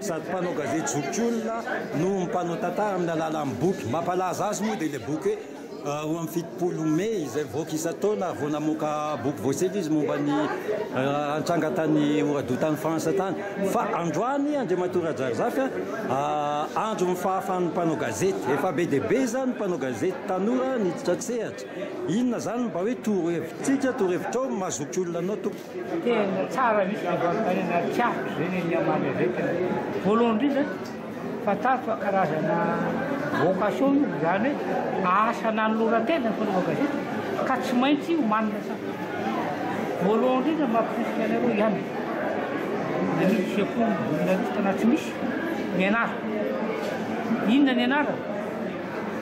Sady mpanao gazety zokiolona no mpanao tantara amin'ny alalan'ny boky. Mampalaza azy moa dia ilay boky hoe Roa amby fitopolo Mey izay mivoaka isan-taona ary vao namoaka boky voasevy izy momba ny nitranga tany Oradour tany France tany. Fa androany Andriamatoa Rajaharizafy an, andron'ny fahafahan'ny mpanao gazety. Efa be dia be izany ny mpanao gazety tanora niditra an-tsehatra. Inona izany no mba hoe toro-hevitsika, toro-hevitrao maha zokiolona anao tompoko? Tena tsara mihitsy ny fanontaniana ary tiako izay ny an'i Amandry Aventina. Voalohany indrindra, fantariko fa karazana vocation io, izany hoe asa nanoloran-tena ny fanaovana gazety ka tsy maintsy omanina tsara. Voalohany indrindra mamporisika anareo ihany, na misy sekoly journaliste na tsy misy, mianara. Inona ny anarana?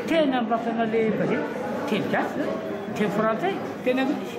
Teny amin'ny lafiny an'ilay gazety, teny gasy izany, teny frantsay, teny anglisy.